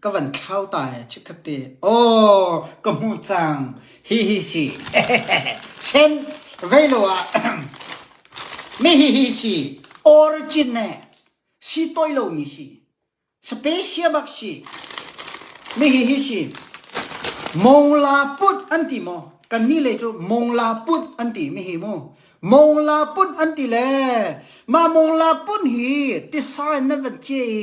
Ka van thlau ta ee chikkhat te. Aw, ka hmuh cang. Hihi si. Sen, vei lo ah mi hihi si. Origin ne si toi lo mi si. Speciamak si. Mi hihi si. Mongla put an ti mo. Kan ni le cu mongla put an ti mi hi mu. Mongla pun an ti le ma mongla pun hi tisa in na van che i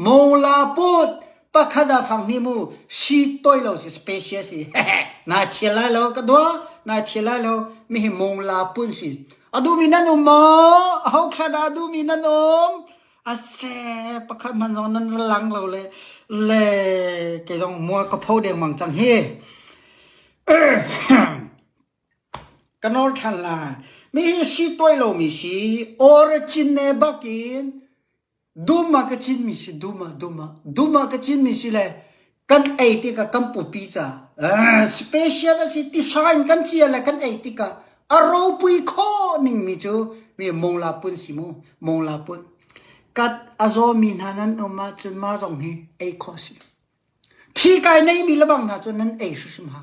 Mawla pawt pakhat ah fang hnih mu siit tawi lo si special si. Naa thial lai lo ka dua. Naa thial lai lo. Mihi mawla pun si. A duhmi nan um maw? Aho khat dah a duhmi nan um? Ase pakhat hman zong nan ra lang lo le le kei zong mual ka pho dengmang cang hi. ka nol than lai. Mi hi si tawi lomi si origin ne bakin Dum ah ka cin mi si, dum ah, dum ah. Dum ah ka cin mi si le kan ei tikah kan pupi ca special a si tisa in kan cia le kan ei tikah a ropui khawh ning mi cu mi mongla pun si mu, mongla pun. Kat a zaw mi hna nan um ahcun ma zong hi ei khawh si. Thi kai nei mi lebang hna cu nan ei hrim hrim ha.